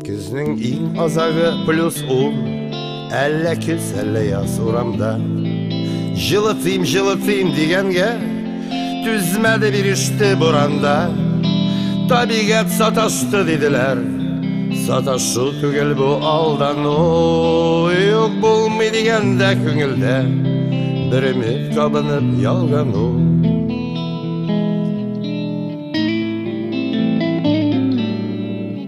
Көзнең иң азагы плюс ун Әллә көз, әллә яз урамда Җылытыйм, җылытыйм дигәнгә Түзмәде биреште буранда Табигать саташты диделәр Саташу түгел бу алдану Юк булмый дигәндә күңелдә Бер өмет кабынып ялгану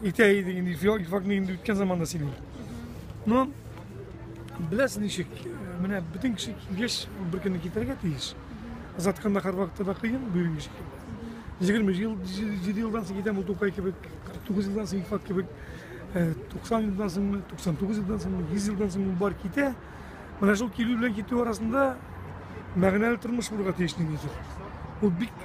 Итә идең инде, факт инде үткән заманда синең. Но беләсең ничек, менә бөтен кеше килгәч, бер көнне китәргә тиеш. Озатканда һәрвакытта да кыен, бүген ничек. Егерме ел, җиде елдан соң китәм, ул тукай кебек, кырык тугыз елдан соң факт кебек, туксан елдан соңмы, туксан тугыз елдан соңмы, йөз елдан соңмы бар китә. Менә шул килү белән китү арасында мәгънәле тормыш булырга тиеш ниндидер. Ул бик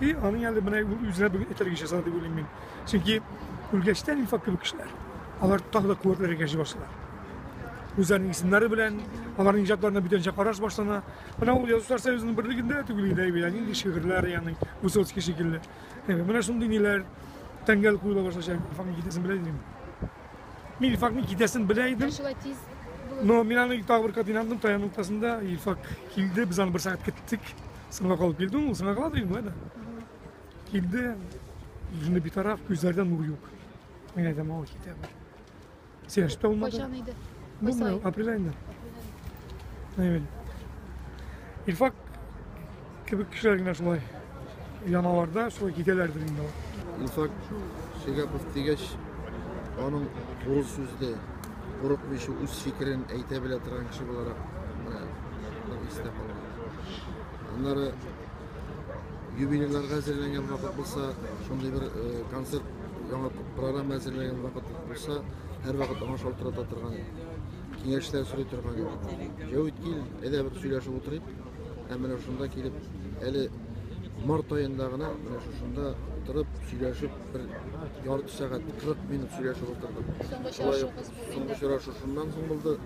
И аның әле менә үзенә бүген этәргә ясады дип уйлыйм мин. Чөнки үлгәчтән инфак кебек кешеләр, алар тагы да куәтләргә җи башлыйлар. Үзләренең исемнәре белән, аларның иҗатларына бүтәнчә караш башлана. Менә ул язучылар союзының берлегендә түгел иде әйбәт, нинди шигырьләр, ягъни Высоцкий шикелле. Менә шундый ниләр тәңгәл куела башлачак, инфакның китәсен белә идем. Мин инфакның китәсен белә идем. Шулай тиз Но мин аны тагы бер кат инандым, таян уртасында Илфак килде, без аны бер сәгать көттек. Сыңа калып килде ул, сыңа кала дигән да. Килде, җыны битараф, күзләрдә нур юк. Мин әйтәм, ау китә бер. Сәяш тә алмады. Кайчан иде? Булмый, апрель айында. Әйбәт. Илфак кебек кешеләр генә шулай яналарда шулай китәләрдер инде алар. Илфак Шигапов дигәч, аның туры сүзле, курыкмыйча үз фикерен әйтә белә торган кеше буларак менә бер истә калган. Аннары юбилейларга әзерләнгән вакыт булса, шундый бер концерт яңа программа әзерләгән вакыт булса, һәр вакыт аңа шалтырата торган киңәшләр сорый торган иде. Җәвит кил, әйдә бер сөйләшеп утырыйк. Һәм менә шунда килеп, әле март аенда гына менә шушында торып сөйләшеп бер ярты сәгать 40 минут сөйләшеп утырдык. Шулай соңгы очрашу шуннан соң булды.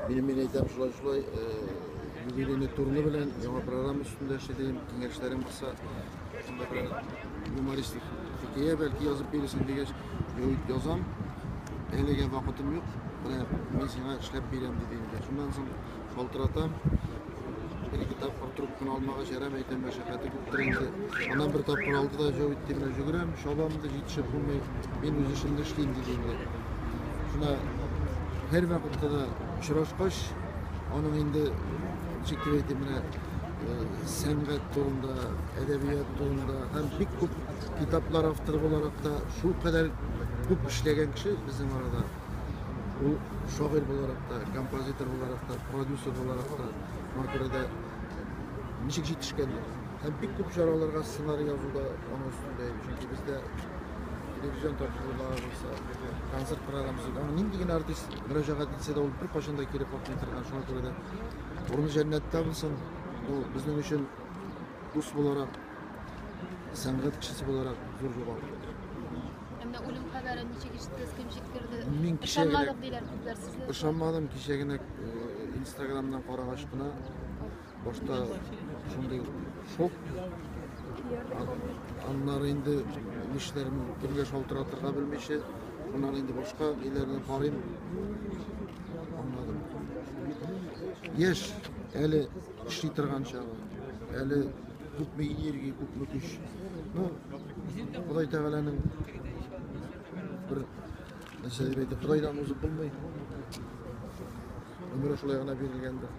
Мин мин әйтәм шулай шулай Юбилейный турны белән яңа программа өстендә эшли дим, киңәшләрем булса, шунда белән юмористик хикәя бәлки язып бирерсең дигәч, язам. Әлегә вакытым юк. Менә мин сиңа эшләп бирәм диде инде. Шуннан соң шалтыратам. Бер ике тапкыр трубканы алмага җәрәм әйтәм, мәшәкате күптер инде. Аннан бер тапкыр алды да җавап итте, менә җөгерәм, чабам да җитешеп булмый. Мин үз эшемне эшлим диде инде. Шуна һәр вакытта да очрашкач, Аның инде ничек дип әйтим менә сәнгать турында, әдәбият турында һәм бик күп китаплар авторы буларак та шул кадәр күп эшләгән кеше безнең арада. Ул шагыйрь буларак та, композитор буларак та, продюсер буларак та, шуңа күрә дә ничек җитешкән һәм бик күп чараларга сценарий язуда аның өстендә, чөнки бездә телевизион тапшырулар булса, концерт программасы, аны нинди генә артист Мөрәҗәгать итсә дә, ул беркайчан да кире какмый торган. Шуңа күрә дә урыны җәннәттә булсын. Бу безнең өчен дус буларак, сәнгать кешесе буларак зур югалту. Әмма үлем хәбәрен ничек ишеттегез, кем җиткерде? Мин кичә генә- Ышанмадык диләр күпләр сезне. Ышанмадым, кичә генә э, инстаграмнан карагач кына Башта шундый шок. Аннары инде нишләрен кемгә шалтыратырга белмичә, шуннан инде башка өйләренә карыйм. Аңладым. Яшь әле эшли торган чагы, әле күпме энергия, күпме көч. Ну, Ходай Тәгаләнең бер нәрсә дип әйтә, Ходайдан узып булмый. Өмре шулай гына бирелгәндер.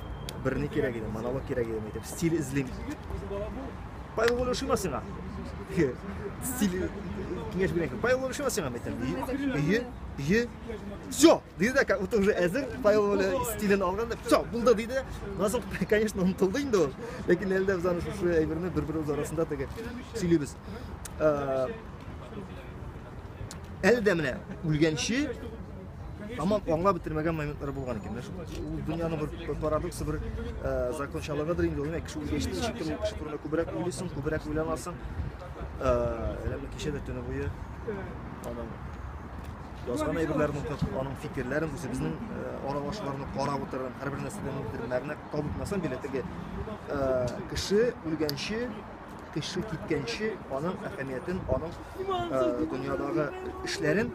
Бер ни кирәк иде, монолог кирәк иде итеп. Стиль эзлим. Павел Воля ошыйма сиңа? Стиль киңәш бирәк. Павел Воля ошыйма сиңа мәйтәм. Ие, ие. Все, диде дә, как будто уже әзер. Павел Воля стилен алган да, все, булды диде. Насыл, конечно, онытылды инде ул. Ләкин әлдә без аны шушы әйберне бер-беребез арасында теге сөйлибез. әле дә менә үлгәнче Тамам аңлап бетермәгән моментлар булган икән. Менә шул ул дөньяның бер парадоксы, бер э, закончалыгыдыр инде. Ул кеше үлгәчтә ничектер ул кеше турында күбрәк уйлыйсың, күбрәк уйланасың. Э, әле менә кичә дә төне буе аның язган әйберләрен укып, аның фикерләрен, үзебезнең э, аралашуларны карап утырдым. Һәрбер нәрсәдән бер мәгънә табып мәсәлән, билетеге кеше үлгәнче Кеше киткәнче аның әһәмиятен, аның э, дөньядагы эшләрен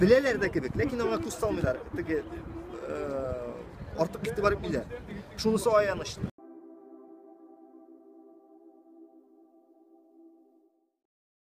беләләр дә кебек, ләкин аңа күз салмыйлар. Теге э, артык игътибар итмиләр. Шунысы аяныч.